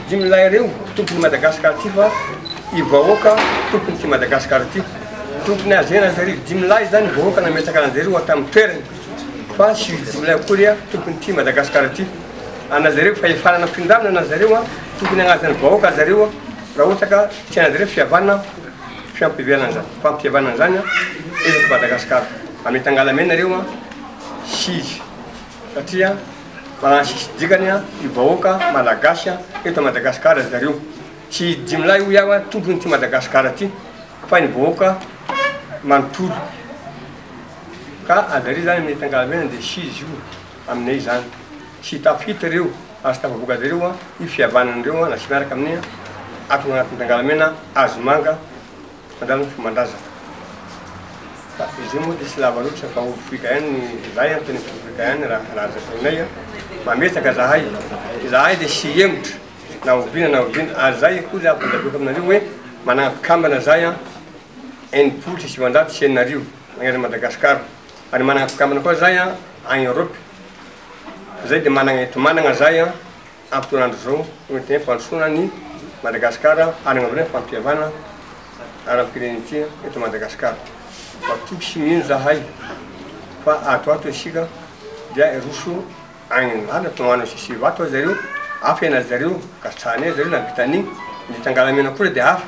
Dimy lahy ireo tompon'i Madagascar ity fa i vahoaka tompony ity Madagascar ity. Tompony azy enatra arivo dimy lahy zany vahoaka nametraka an'azy ireo atao amin'ny toerany fa tsy dimy lahy akory tompony ity Madagascar ity. An'azy ireo fahefana nampindramina an'azy ireo tokony hagnajany vahoaka azy ireo raha ohatra ka tian'azy ireo fihavanana fiampihavanana zany fampihavanana zany eto Madagascar. Amy tangala mena ireo sy izy. satria fa sisy dikany io vahoaka malagasy eto Madagascar ry zareo tsy izy dimy lahy hoy aho tompony ity Madagascar ty fa ny vahoaka manontolo ka ajareo zany mety angalamena de tsy izy io aminay zany tsy tafita reo ary tsy tafavoaka zareo io fihavanana reo na tsy miaraka aminay ato agnatin'ny tangalamena hazo manga Andramo fa mandraza fa izy io moa dia tsy lava loatra fa ovy fruit cayenne ny zay antony ny fruit cayenne raha halaza taminay a! Mametraka zahay, zahay dia tsy hihemotra na oviana na oviana ary zay koa zay ampandaviko aminareo hoe manana mpikambana zahay a enimpolo sy sivinjato sy enina arivo magnerana Madagascar ary manana mpikambana koa zahay a agny Europe zay dia manana ento-manana zahay a! Ampotoan'andro izao, tonga dia fampandrosoana an'i Madagasikara ary agnamboarana fampihavana ara-pirenentsika eto Madagasikara. Matoky sy mino zahay fa ato ato isika dia hiroso agny an'ala, toa magnano sisy vato aza zareo, hafa i anareo zareo, ka tsy hahanay zareo na vitan'ny ny tangalamena koa dia hafa.